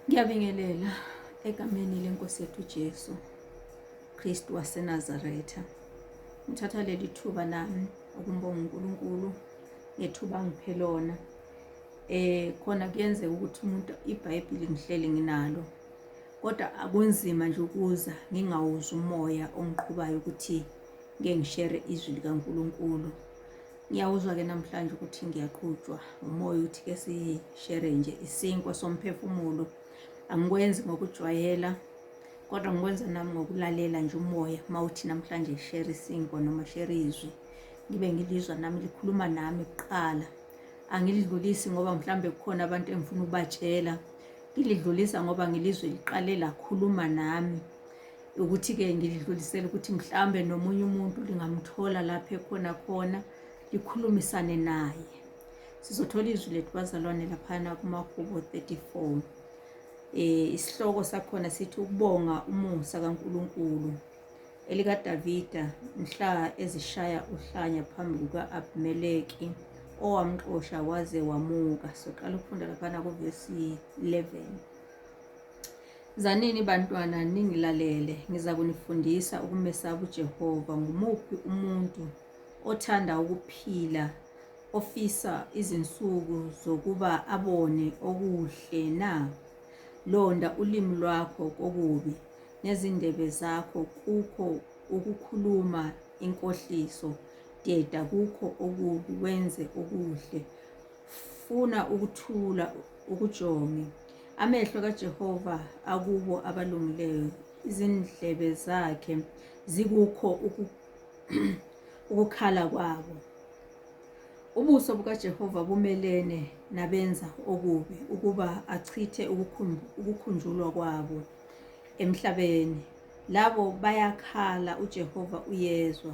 Ngiyabingelela egameni lenkosi yethu Jesu Kristu waseNazaretha. Ngithatha leli thuba nami ukumbonga uNkulunkulu ngethuba ngiphe lona. Eh khona kuyenzeka ukuthi umuntu iBhayibheli ngihleli nginalo. Kodwa akunzima nje ukuza ngingawuzwa umoya ongiqhubayo ukuthi ngeke ngishere izwi likaNkulunkulu. Ngiyawuzwa-ke namhlanje ukuthi ngiyaqhutshwa umoya uthi ke sishere nje isinkwa somphefumulo angikwenzi ngokujwayela kodwa ngikwenza nami ngokulalela nje umoya uma uthi namhlanje shere isinkwa noma shere izwi ngibe ngilizwa nami likhuluma nami kuqala angilidlulisi ngoba mhlawumbe kukhona abantu engifuna ukubatshela ngilidlulisa ngoba ngilizwe liqale lakhuluma nami ukuthi-ke ngilidlulisele ukuthi mhlawumbe nomunye umuntu lingamthola lapho ekhona khona likhulumisane naye sizothola izwi lethu bazalwane laphana kumahubo 34 um eh, isihloko sakhona sithi ukubonga umusa kankulunkulu elikadavida mhla ezishaya uhlanya phambi kuka-abimeleki owamxosha waze wamuka soqala ukufunda laphana kuvesi 11 Zanini bantwana ningilalele, ngiza kunifundisa ukumesaba uJehova. Ngumuphi umuntu othanda ukuphila ofisa izinsuku zokuba abone okuhle na? Londa ulimi lwakho kokubi nezindebe zakho kukho ukukhuluma inkohliso. Deda kukho okubi wenze okuhle. funa ukuthula ukujonge amehlo kaJehova akubo abalungileyo izindlebe zakhe zikukho ukukhala kwabo ubuso bukaJehova bumelene nabenza okubi ukuba achithe ukukhunjulwa kwabo emhlabeni labo bayakhala uJehova uyezwa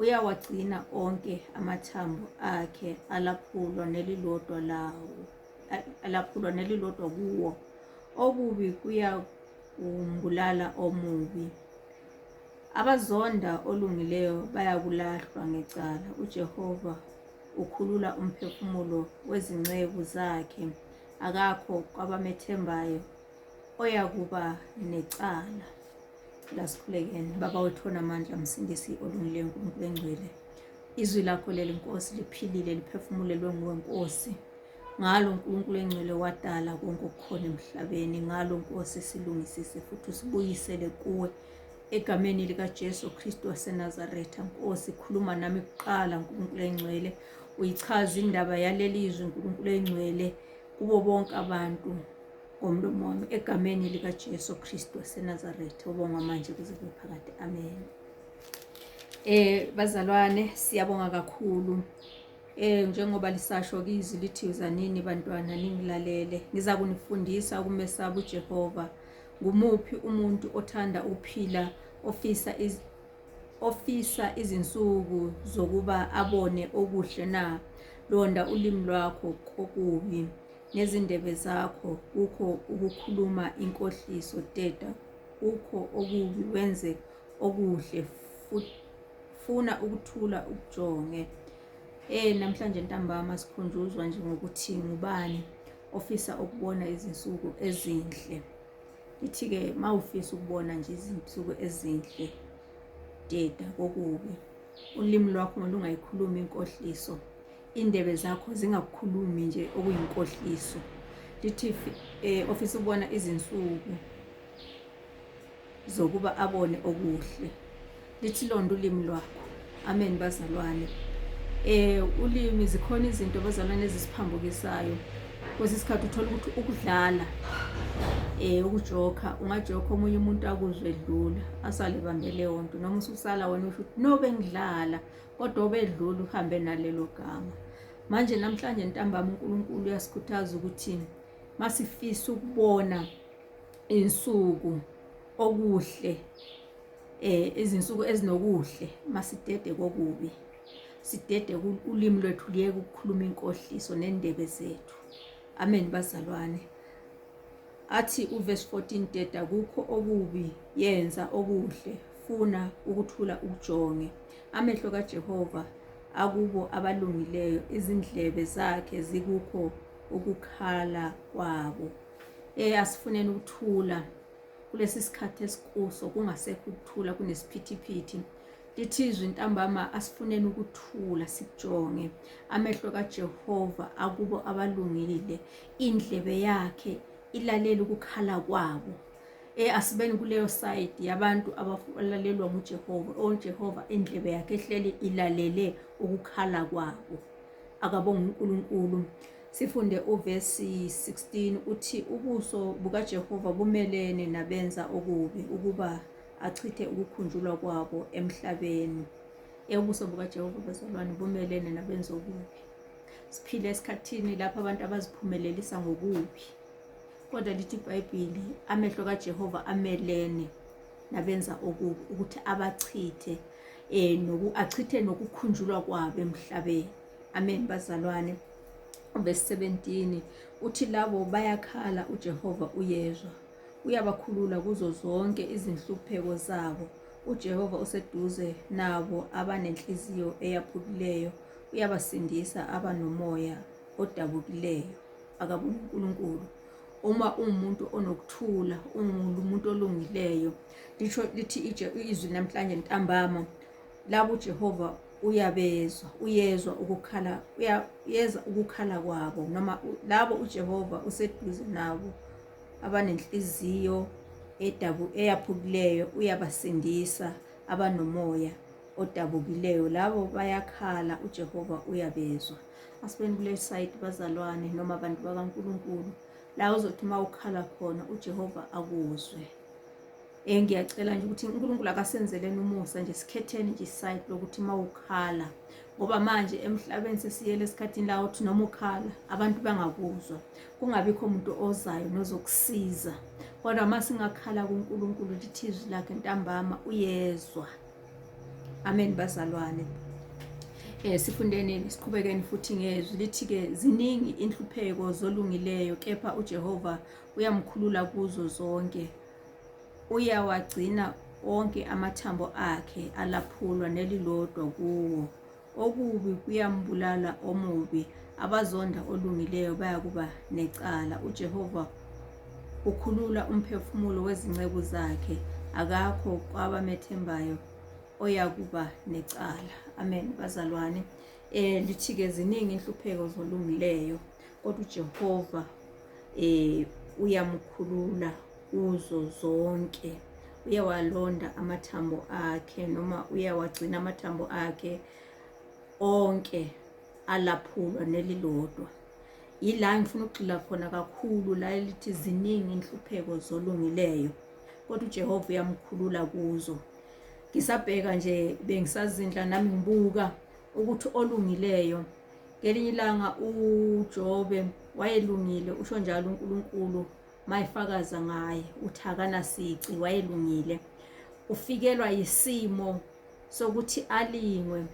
Uyawagcina onke amathambo akhe alaphulwa nelilodwa lawo alaphulwa nelilodwa kuwo. Okubi kuyakumbulala omubi. Abazonda olungileyo bayakulahlwa ngecala. UJehova ukhulula umphefumulo wezinceku zakhe, akakho kwabamethembayo oyakuba necala lasikhulekeni baba wethu onamandla msindisi olungileyo nkulunkulu engcwele izwi lakho leli nkosi liphilile liphefumulelwe nguwe nkosi ngalo nkulunkulu engcwele wadala konke okukhona emhlabeni ngalo nkosi silungisise futhi usibuyisele kuwe egameni likajesu kristu wasenazaretha nkosi khuluma nami kuqala nkulunkulu engcwele uyichaza indaba yaleli zwi nkulunkulu engcwele kubo bonke abantu Ngomlomo wami egameni likaJesu Kristu waseNazaretha ubongwa manje kuze kube phakade. Amen. Eh bazalwane siyabonga kakhulu. Eh njengoba lisasho kizwi lithi uzanini bantwana ningilalele. Ngiza kunifundisa ukumesaba uJehova. Ngumuphi umuntu othanda ukuphila ofisa iz ofisa izinsuku zokuba abone okuhle na? Londa ulimi lwakho kokubi. Ngezindebe zakho kukho ukukhuluma inkohliso teta kukho okubi wenze okuhle funa ukuthula ukujonge eh namhlanje ntambama sikhunjuzwa nje ngokuthi ngubani ofisa ukubona izinsuku ezinhle ithi-ke ma ufisa ukubona nje izinsuku ezinhle teta kokubi ulimi lwakho lungayikhulumi inkohliso indebe zakho zingakukhulumi nje okuyinkohliso lithi eh, ofisa ukubona izinsuku zokuba abone okuhle lithi londa ulimi lwakho amen bazalwane eh ulimi zikhona izinto bazalwane ezisiphambukisayo kwesinye isikhathi uthola ukuthi ukudlala eh ukujoka ungajoka omunye umuntu akuzwe edlula asale bambele wonto noma ususala wena usho ukuthi no bengidlala kodwa obedlula uhambe nalelo gama. Manje namhlanje ntambama uNkulunkulu uyasikhuthaza ukuthi masifisa ukubona insuku okuhle eh izinsuku ezinokuhle masidede kokubi sidede ulimi lwethu liyeke ukukhuluma inkohliso nendebe zethu amen bazalwane athi uverse 14 deda kukho okubi yenza okuhle funa ukuthula ujonge Amehlo kaJehova akubo abalungileyo, izindlebe zakhe zikukho ukukhala kwabo. Eh asifuneni ukuthula kulesi sikhathi esikuso kungasekho ukuthula kunesiphithiphithi lithi izwi ntambama asifuneni ukuthula sikujonge amehlo kaJehova akubo abalungile indlebe yakhe ilalela ukukhala kwabo e asibeni kuleyo side yabantu abalalelwa nguJehova oJehova oh, indlebe yakhe ehleli ilalele ukukhala kwabo akabonga uNkulunkulu sifunde uvesi 16 uthi ubuso bukaJehova bumelene nabenza okubi ukuba achithe ukukhunjulwa kwabo emhlabeni eyobuso bukaJehova bezalwane bumelene nabenza okubi siphile esikhathini lapho abantu abaziphumelelisa ngokubi kodwa lithi ibhayibhili amehlo kajehova amelene nabenza okubi ukuthi abachithe um achithe nokukhunjulwa kwabo emhlabeni amen bazalwane uvesi 17 uthi labo bayakhala ujehova uyezwa uyabakhulula kuzo zonke izinhlupheko zabo ujehova useduze nabo abanenhliziyo eyaphukileyo uyabasindisa abanomoya odabukileyo akabe uNkulunkulu uma ungumuntu onokuthula ungumuntu olungileyo lisho lithi izwi namhlanje ntambama labo uJehova uyabezwa uyezwa ukukhala uyeza ukukhala kwabo noma labo uJehova useduze nabo abanenhliziyo edabu eyaphukileyo uyabasindisa abanomoya odabukileyo labo bayakhala uJehova uyabezwa asibeni kule side bazalwane noma abantu bakaNkulunkulu la uzothi uma ukhala khona uJehova akuzwe eh ngiyacela nje ukuthi uNkulunkulu akasenzeleni umusa nje sikhetheni nje side lokuthi uma ukhala ngoba manje emhlabeni sesiyele esikhathini la uthi noma ukhala abantu bangakuzwa kungabikho umuntu ozayo nozokusiza kodwa uma singakhala kuNkulunkulu lithi izwi lakhe ntambama uyezwa Amen bazalwane. Eh sifundeni siqhubekeni futhi ngezwi lithi ke ziningi inhlupheko zolungileyo kepha uJehova uyamkhulula kuzo zonke. Uyawagcina onke amathambo akhe alaphulwa nelilodwa kuwo. Okubi kuyambulala omubi, abazonda olungileyo bayakuba necala. UJehova ukhulula umphefumulo wezinceku zakhe, akakho kwabamethembayo oyakuba necala. Amen, bazalwane. Eh lithi-ke ziningi inhlupheko zolungileyo, kodwa uJehova eh uyamukhulula kuzo zonke uyawalonda amathambo akhe noma uyawagcina amathambo akhe onke alaphulwa nelilodwa yila ngifuna ukugxila khona kakhulu la elithi ziningi inhlupheko zolungileyo kodwa uJehova uyamkhulula kuzo ngisabheka nje bengisazindla nami ngibuka ukuthi olungileyo ngelinye ilanga uJobe wayelungile usho njalo uNkulunkulu mayifakaza ngaye uthi akanasici wayelungile ufikelwa yisimo sokuthi alingwe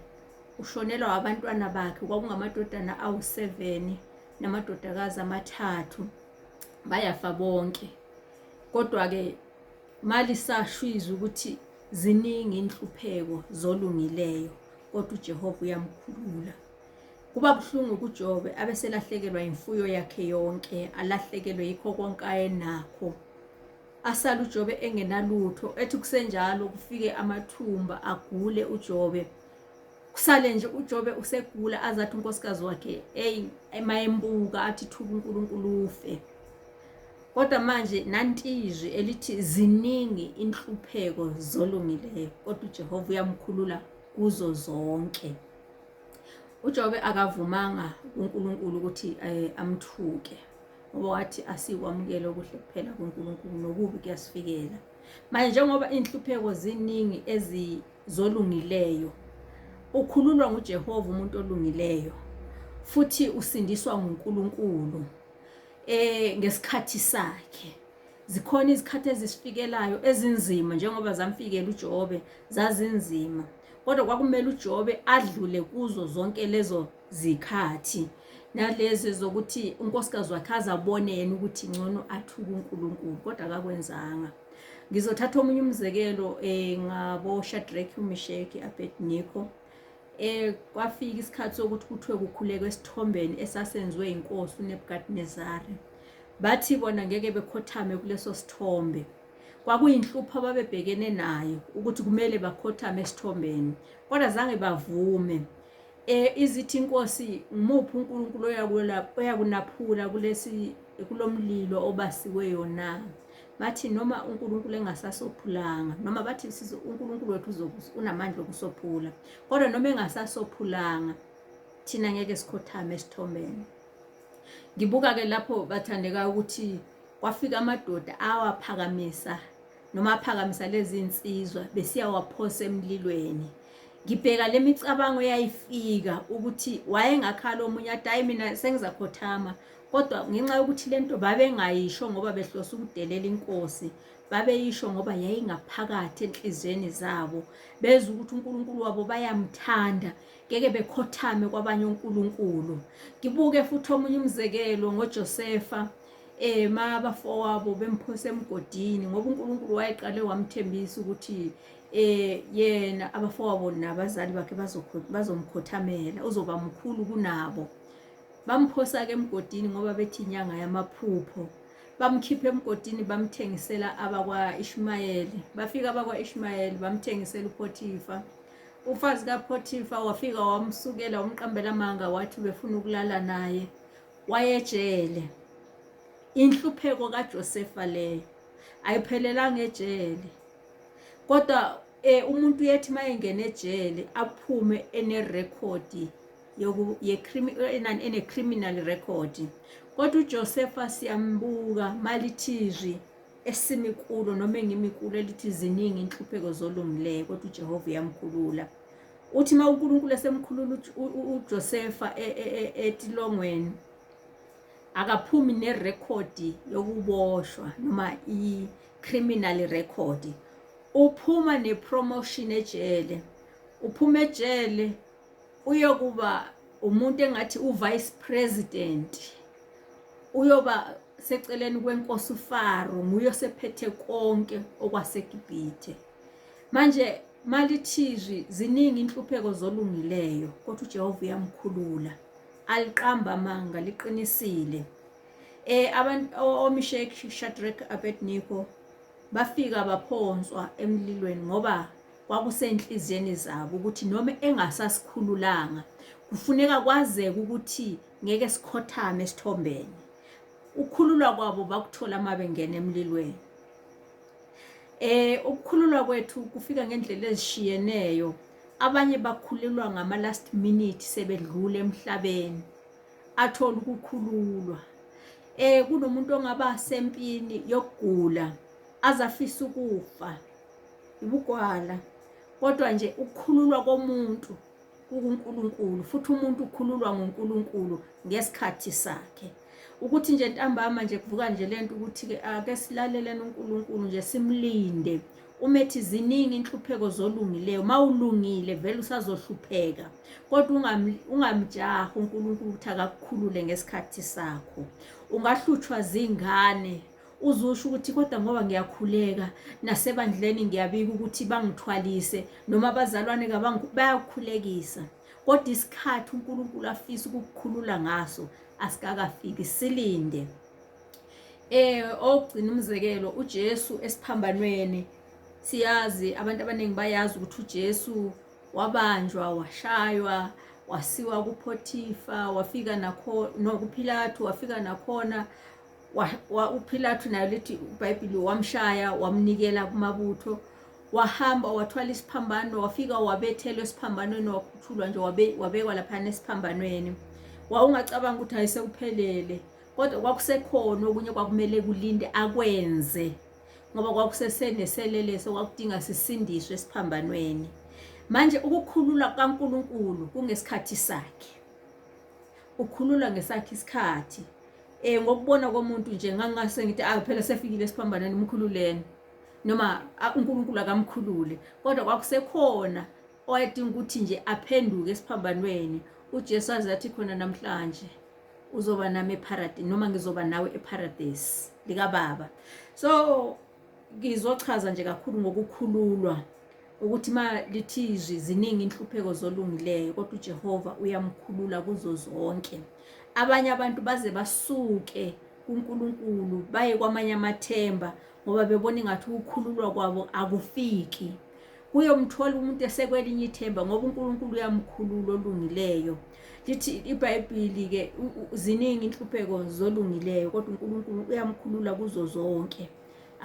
ushonelwa abantwana bakhe kwakungamadodana awu-7 namadodakazi amathathu bayafa bonke kodwa-ke malisashwiza ukuthi ziningi inhlupheko zolungileyo kodwa uJehova uyamkhulula Kuba buhlungu kuJobe abeselahlekelwa imfuyo yakhe yonke, alahlekelwe yikho konke ayenakho. Asale uJobe engenalutho, ethi kusenjalo kufike amathumba agule uJobe. Kusale nje uJobe usegula azathi unkosikazi wakhe hey emayembuka athi thuka uNkulunkulu ufe. Kodwa manje nantizwi elithi ziningi inhlupheko zolungileyo kodwa uJehova uyamkhulula kuzo zonke. uJobe akavumanga kuNkulunkulu ukuthi eh, amthuke ngoba wathi asikwamukele okuhle kuphela kuNkulunkulu nokubi kuyasifikela manje njengoba inhlupheko ziningi ezizolungileyo ukhululwa nguJehova umuntu olungileyo futhi usindiswa nguNkulunkulu eh ngesikhathi sakhe Zikhona izikhathi ezisifikelayo ezinzima njengoba zamfikela uJobe zazinzima. Kodwa kwakumele uJobe adlule kuzo zonke lezo zikhathi nalezi zokuthi unkosikazi wakhe azabone yena ukuthi ngcono athuke uNkulunkulu kodwa akakwenzanga. Ngizothatha omunye umzekelo eh ngabo Shadrach, uMeshach, Abednego. Eh kwafika isikhathi sokuthi kuthiwe kukhulekwe esithombeni esasenziwe inkosi uNebukadnezari. Bathi bona ngeke bekhothame kuleso sithombe. Kwakuyinhlupho ababebhekene nayo ukuthi kumele bakhothame esithombeni kodwa zange bavume. Eh izithi inkosi ngimuphi uNkulunkulu oyakwela oyakunaphula kulesi kulomlilo obasiweyo na? bathi noma uNkulunkulu engasasophulanga noma bathi sizo uNkulunkulu wethu unamandla okusophula kodwa noma engasasophulanga thina ngeke sikhothame esithombeni ngibuka ke lapho bathandeka ukuthi kwafika amadoda awaphakamisa noma aphakamisa lezi insizwa besiyawaphosa emlilweni ngibheka le micabango eyayifika ukuthi wayengakhala omunye ati hayi mina sengizakhothama kodwa ngenxa yokuthi le nto babengayisho ngoba behlose ukudelela inkosi babeyisho ngoba yayingaphakathi enhliziyweni zabo bezwa ukuthi uNkulunkulu wabo bayamthanda ngeke bekhothame kwabanye uNkulunkulu ngibuke futhi omunye umzekelo ngoJosefa eh mabafowabo bemphose emgodini ngoba uNkulunkulu wayeqale wamthembisa ukuthi eh yena abafowabo nabazali bakhe bazomkhothamela uzoba mkhulu kunabo Bamphosa-ke emgodini ngoba bethi inyanga yamaphupho. Bamkhipha emgodini bamthengisela abakwa-Ishmayeli. Bafika abakwa-Ishmayeli bamthengisela uPhothifa. Ufazi kaPhothifa wafika wamsukela wamqambela amanga wathi ubefuna ukulala naye. Wayejele. Inhlupheko kaJosefa leyo. Ayiphelelanga ejele. Kodwa eh umuntu uyethi mayengena ejele aphume ene record ene-criminal record kodwa uJosefa siyambuka malithizwi esimi kulo noma engimi kulo elithi ziningi inhlupheko zolungileyo kodwa uJehova uyamkhulula uthi uma uNkulunkulu esemkhulula uJosefa e, e, e, etilongweni akaphumi nerekhodi yokuboshwa noma i-criminal record uphuma nepromotion ejele uphuma ejele uyokuba umuntu engathi uvice president uyoba seceleni kwenkosi uFaro nguye osephethe konke okwaseGibhithe manje malithizwi ziningi inhlupheko zolungileyo kodwa uJehova uyamkhulula aliqamba amanga liqinisile eh abantu oMishek Shadrach Abednego bafika baphonswa emlilweni ngoba kwakusenhliziyweni zabo ukuthi noma engasasikhululanga kufuneka kwazeke ukuthi ngeke sikhothame esithombeni ukukhululwa kwabo bakuthola uma bengena emlilweni eh ukukhululwa kwethu kufika ngendlela ezishiyeneyo abanye bakhululwa ngama last minute sebedlula emhlabeni athola ukukhululwa eh kunomuntu ongaba sempini yokugula azafisa ukufa ubugwala kodwa nje ukukhululwa komuntu kukuNkulunkulu futhi umuntu ukhululwa nguNkulunkulu ngesikhathi sakhe ukuthi nje ntambama nje kuvuka nje lento ukuthi ke ake silaleleni uNkulunkulu nje simlinde umethi ziningi inhlupheko zolungileyo mawulungile vele usazohlupheka kodwa ungamjaha uNkulunkulu ukuthi akakukhulule ngesikhathi sakho ungahlutshwa zingane uzusho ukuthi kodwa ngoba ngiyakhuleka nasebandleni ngiyabika ukuthi bangithwalise noma abazalwane bayakukhulekisa kodwa isikhathi uNkulunkulu afisa ukukukhulula ngaso asikakafiki silinde eh ogcina umzekelo uJesu esiphambanweni siyazi abantu abaningi bayazi ukuthi uJesu wabanjwa washaywa wasiwa kuPhotipha wafika nakho nokuPhilathu wafika nakhona uPhilathu nayo lithi uBhayibhili wamshaya wamnikela kumabutho wahamba wathwala isiphambano wafika wabethelwa esiphambanweni wakhuthulwa nje wabekwa laphana esiphambanweni wawungacabanga ukuthi hayi sekuphelele kodwa kwakusekhona okunye kwakumele kulinde akwenze ngoba kwakuseseneseleleso kwakudinga sisindiswe esiphambanweni manje ukukhulula kukaNkulunkulu kungesikhathi sakhe ukhulula ngesakhe isikhathi eh ngokubona komuntu nje ngangase ngithi ah phela sefikile esiphambanweni umkhululeni noma uNkulunkulu akamkhulule kodwa kwakusekhona owayedinga ukuthi nje aphenduke esiphambanweni uJesu aze athi khona namhlanje uzoba nami eparadise noma ngizoba nawe eparadise likababa so Ngizochaza nje kakhulu ngokukhululwa ukuthi ma lithi izwi ziningi inhlupheko zolungileyo kodwa uJehova uyamkhulula kuzo zonke abanye abantu baze basuke kuNkulunkulu baye kwamanye amathemba ngoba bebona ingathi ukukhululwa kwabo akufiki uyomthola umuntu esekwelinye ithemba ngoba uNkulunkulu uyamkhulula olungileyo lithi ibhayibhili ke ziningi inhlupheko zolungileyo kodwa uNkulunkulu uyamkhulula kuzo zonke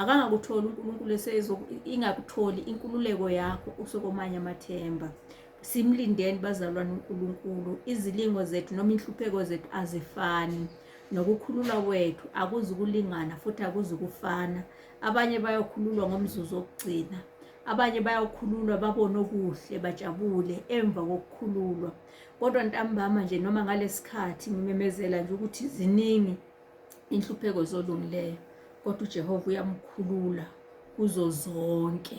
akangakutholi uNkulunkulu esezo ingakutholi inkululeko yakho usokomanye amathemba simlindeni bazalwane uNkulunkulu izilingo zethu noma inhlupheko zethu azifani nokukhululwa kwethu akuzi ukulingana futhi akuzi ukufana abanye bayokhululwa ngomzuzu wokugcina abanye bayokhululwa babone okuhle bajabule emva kokukhululwa kodwa ntambama nje noma ngalesikhathi ngimemezela nje ukuthi ziningi inhlupheko zolungileyo kodwa uJehova uyamkhulula kuzo zonke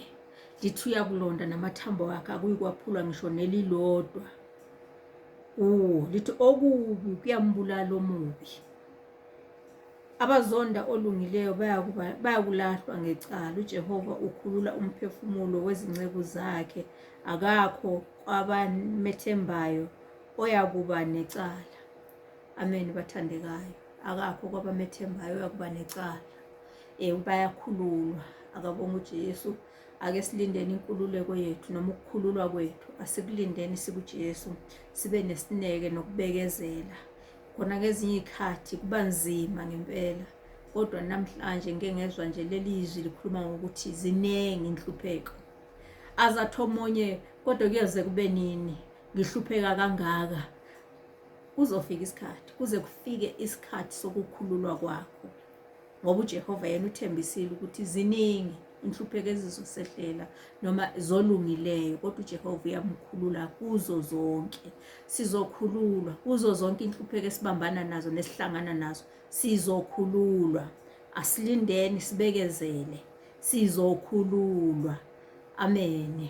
lithi uyakulonda namathambo akhe akuyikwaphulwa ngisho nelilodwa kuwo lithi okubi kuyambulala omubi Abazonda olungileyo bayakulahlwa ngecala. UJehova ukhulula umphefumulo wezinceku zakhe, akakho kwabamethembayo oyakuba necala. Amen, bathandekayo. Akakho kwabamethembayo oyakuba necala. Um bayakhululwa, akabonga uJesu. Ake silindeni inkululeko yethu noma ukukhululwa kwethu, asikulindeni sikuJesu, sibe nesineke nokubekezela. khona ngezinye iy'khathi kuba nzima ngempela kodwa namhlanje ngike ngezwa nje leli izwi likhuluma ngokuthi ziningi inhlupheko azathi omunye kodwa kuyoze kube nini ngihlupheka kangaka kuzofika isikhathi kuze kufike isikhathi sokukhululwa kwakho ngoba uJehova yena uthembisile ukuthi ziningi inhlupheko ezizosehlela noma zolungileyo kodwa uJehova uyamkhulula kuzo zonke sizokhululwa kuzo zonke inhlupheko esibambana nazo nesihlangana nazo sizokhululwa asilindeni sibekezele sizokhululwa amen